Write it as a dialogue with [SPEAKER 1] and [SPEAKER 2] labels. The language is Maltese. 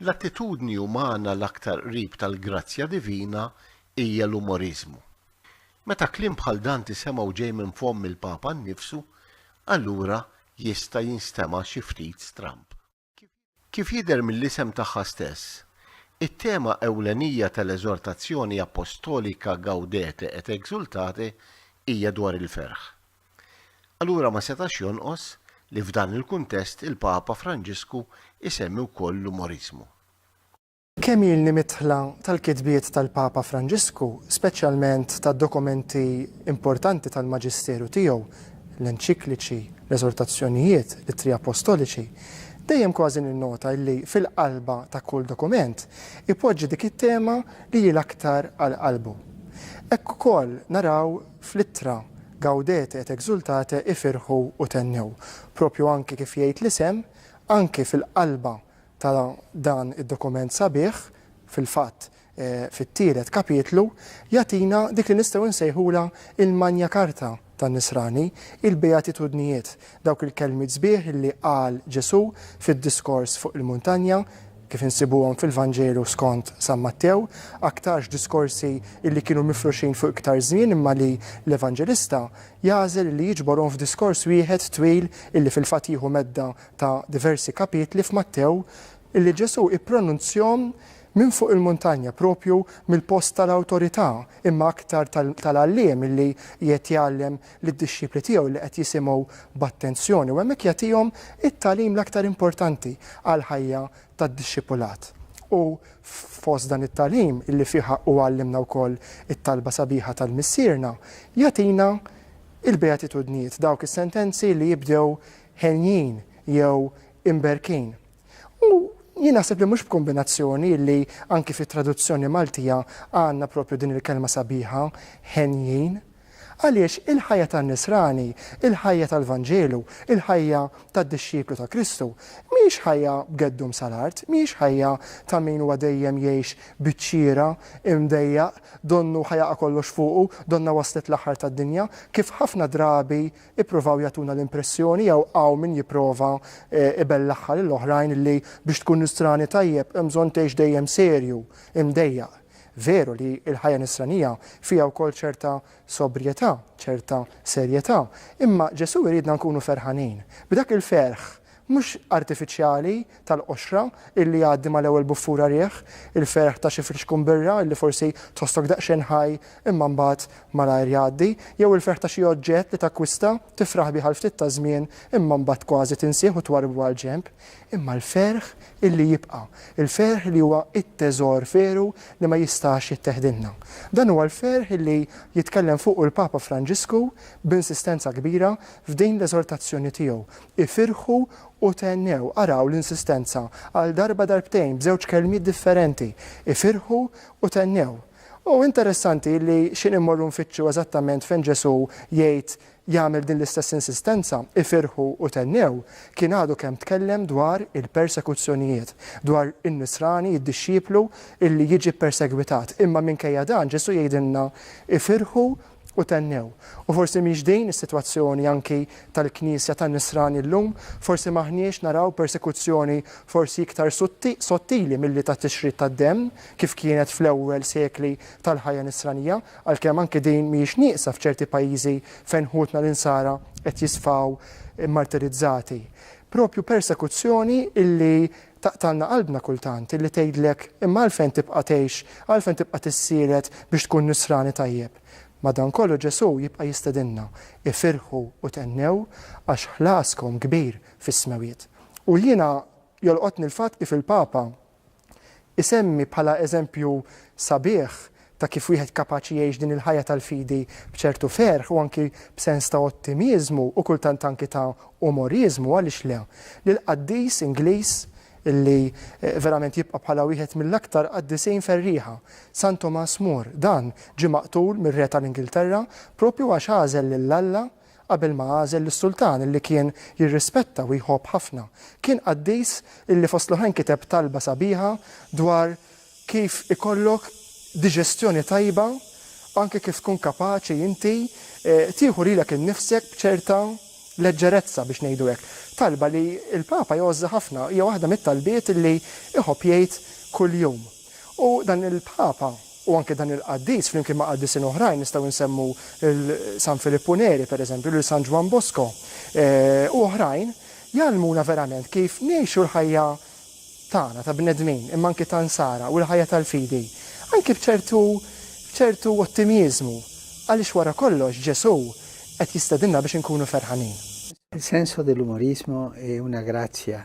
[SPEAKER 1] L-attitudni umana l-aktar qrib tal-grazzja divina hija l-umoriżmu. Meta kliem bħal dan tisemgħu ġej minn fomm il-Papa nnifsu, allura jista' jinstema' xi ftit stramb. Kif jidher mill-isem tagħha stess, it-tema ewlenija tal-eżortazzjoni appostolika Gaudete et exultate hija dwar il-ferħ. Allura ma setax jonqos li f'dan il-kuntest il-Papa Franġisku jsemmi wkoll l-umoriżmu.
[SPEAKER 2] Kemm ilni midħla tal-kitbiet tal-Papa Franġisku, speċjalment tad-dokumenti importanti tal-maġisteru tiegħu, l-enċikliċi, l-eżortazzjonijiet, l-ittri apostoliċi, dejjem kważi ninnota illi fil-qalba ta' kull dokument ipoġġi dik it-tema li hi l-aktar għal qalbu. Hekk ukoll naraw Fl-ittra, Gaudete et exultate ifirħu u thennew. Proprju anki kif jgħid l-isem, anki fil-qalba ta' dan id-dokument sabiħ, fil-fatt fit-tielet kapitlu, jagħtina dik li nistgħu nsejħulha il-Magna Carta tan-Nisrani, il-Beatitudnijiet, dawk il-kelmiet sbieħ li qal Ġesù fid-Diskors fuq il-Muntanja, kif insibuhom fil-Vanġelu skont San Mattew, aktarx diskorsi li kienu mifruxin fuq iktar żmien imma li l-Evanġelista jagħżel li jiġborhom f'diskors wieħed twil li fil-fatt jieħu medda ta' diversi kapitli f'Mattew li Ġesù ippronunzjhom minn fuq il-muntanja, proprju mill-post tal-awtorità imma aktar tal-għalliem li qiegħed jgħallem lid-dixxipli tiegħu li qed jisimgħu b'attenzjoni u hemmhekk jagħtihom it-tagħlim l-aktar importanti għall-ħajja tad-dixxipulat. U fost dan it-tagħlim, illi fih hu għallimna wkoll it-talba sabiħa tal-Missierna, jagħtina l-beatitudnijiet, dawk is-sentenzi li jibdew henjin jew imberkin. U jien naħseb li mhux b'kombinazzjoni illi anki fit-traduzzjoni Maltija għandna proprju din il-kelma sabiħa, henjin. Għaliex il-ħajja tan-Nisrani, il-ħajja tal-Vanġelu, il-ħajja tad-dixxiplu ta' Kristu, mhijiex ħajja b'geddum sal-art, mhijiex ħajja ta' min huwa dejjem jgħix biċ-ċira, imdejjaq, donnu ħa jaqa' kollox fuqu, donnha waslet l-aħħar tad-dinja, kif ħafna drabi ippruvaw jagħtuna l-impressjoni jew hawn min jipprova ibellagħha lil oħrajn li biex tkun Nisrani tajjeb hemm bżonn tgħix dejjem serju, imdejjaq. Veru li l-ħajja Nisranija fiha wkoll ċerta sobrjetà, ċerta serjetà, imma Ġesù jridna nkunu ferħanin, b'dak il-ferħ, mhux artifiċjali, tal-qoxra illi jgħaddi mal-ewwel buffura riħ, il-ferħ ta' xi frixkun birra illi forsi tħossok daqsxejn ħaj imma mbagħad malajr jgħaddi, jew il-ferħ ta' xi oġġett li takkwista, tifraħ bih għal ftit taż-żmien imma mbagħad kważi tinsieh u twarrbu għall-ġenb. imma l-ferħ illi jibqa', il-ferħ li huwa t-teżor veru li ma jistax jitteħdilna. Dan huwa l-ferħ illi jitkellem fuqu l-Papa Franġisku b'insistenza kbira f'din l-eżortazzjoni tiegħu, Ifirħu u thennew. Araw l-insistenza għal darba darbtejn b'żewġ kelmiet differenti, Ifirħu u thennew. U interessanti li x'in immorru nfittxu eżattament fejn Ġesù jgħid jagħmel din l-istess insistenza, ifirħu u thennew, kien għadu kemm tkellem dwar il-persekuzzjonijiet, dwar in-nisrani, id-dixxiplu, illi jiġi ppersegwitat. Imma minkejja dan Ġesù jgħidilna, ifirħu u thennew. U forsi mhix din is-sitwazzjoni anki tal-Knisja tan-nisrani llum? Forsi m'aħniex naraw persekuzzjoni forsi iktar sottili milli tat-tixrid tad-demm, kif kienet fl-ewwel sekli tal-ħajja nisranija? Għalkemm anki din mhijiex nieqsa f'ċerti pajjiżi fejn ħutna l-Insara qed jisfaw martirizzati. Proprju persekuzzjoni illi taqtgħalna qalbna kultant, illi tgħidlek imma għalfejn tibqa' tgħix, għalfejn tibqa' tissielet biex tkun Nisrani tajjeb? Madankollu Ġesù jibqa' jistedinna, Ifirħu u thennew għax ħlaskom kbir fis-smewwiet. U jiena jolqotni l-fatt kif il-Papa, Isemmi bħala eżempju sabiħ ta' kif wieħed kapaċi jgħix din il-ħajja tal-fidi b'ċertu ferħ u anki b'sens ta' ottimiżmu u kultant anki ta' umoriżmu, għaliex le, lill-qaddis Ingliż li verament jibqa' bħala wieħed mill-aktar qaddisin ferrieħa, San Tomas More. Dan ġie maqtul mir-Re tal-Ingilterra proprju għax għażel lil Alla Qabel ma għażel lis-sultan li kien jirrispetta u jħobb ħafna, kien qaddis li fost l-oħrajn kiteb talba sabiħa dwar kif ikollok diġestjoni tajba, anke kif tkun kapaċi inti tieħu lilek innifsek b'ċerta leġġerezza biex ngħidu hekk. Talba li l-Papa jgħożżha ħafna, hija waħda mit-talbiet li jħobb jgħid kuljum. U dan il-Papa u anke dan il-qaddis flimkien ma' qaddisin oħrajn nistgħu nsemmu lil San Filippu Neri pereżempju, lil San Ġwann Bosco eh, u oħrajn jgħallmuna verament kif ngħixu l-ħajja tagħna ta' bnedmin imma anke ta' nsara u l-ħajja tal-fidi anke b'ċertu b'ċertu ottimjiżmu għaliex wara kollox Ġesù qed jistedinna biex inkunu ferħanin. Il senso
[SPEAKER 3] dell'umorismo è una grazia